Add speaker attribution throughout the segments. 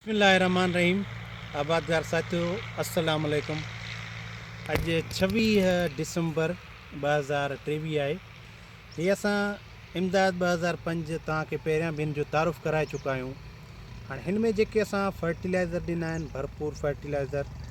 Speaker 1: بسم الله الرحمٰن الرحيم آبادگار ساٿيو السلام عليڪم اڄ ڇويهه ڊسمبر ٻه هزار ٽيويهه آهي هي اسان امداد ٻه هزار پنج توهان کي پهريان به هن جو تعارف ڪرائي چڪا آهيون هاڻي هن ۾ جيڪي اسان فرٽيلائزر ڏنا آهن ڀرپور فرٽيلائزر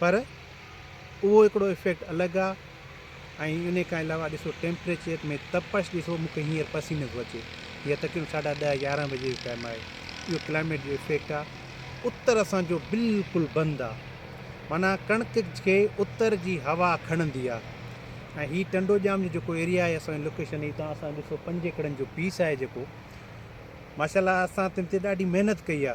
Speaker 1: پر اهو هڪڙو افيڪٽ الڳ آ ۽ ان کان علاوه ڏسو ٽيمپريچر ۾ تپش ڏسو مون کي هينئر پسينو ٿو اچي هي تقريبن ساڍا ڏهه يارهن بجي جو ٽائيم آهي اهو ڪلائميٽ جو افيڪٽ آ اتر اسان جو بلڪل بند آ معنيٰ ڪڻڪ کي اتر جي هوا کڻندي آ ۽ هي ٽنڊو ڄام جو جيڪو ايريا آهي اسان جي لوڪيشن هي تان اسان ڏسو پنج ايڪڙن جو پيس آهي جيڪو ماشاء الله اسان تن تي ڏاڍي محنت ڪئي آ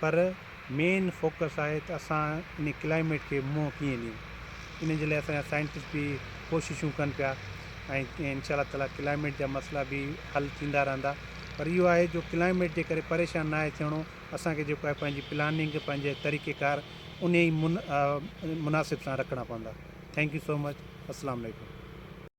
Speaker 1: پر مين فوڪس آهي ته اسان ان ڪلائميٽ کي منهن ڪيئن ڏيون ان جي لاء اسان جا سائنٽسٽ به ڪوششون ڪن پيا ۽ انشاء الله تعالٰي ڪلائميٽ جا مسئلا به حل ٿيندا رهندا پر اهو آهي جو ڪلائميٽ جي ڪري پريشان نه آهي ٿيڻو اسانکي جيڪو آهي پنهنجي پلاننگ پنهنجي طريقي ڪار ان ئي مناسب سان رکڻا پوندا ٿينڪ يو سو مچ اسلام عليڪم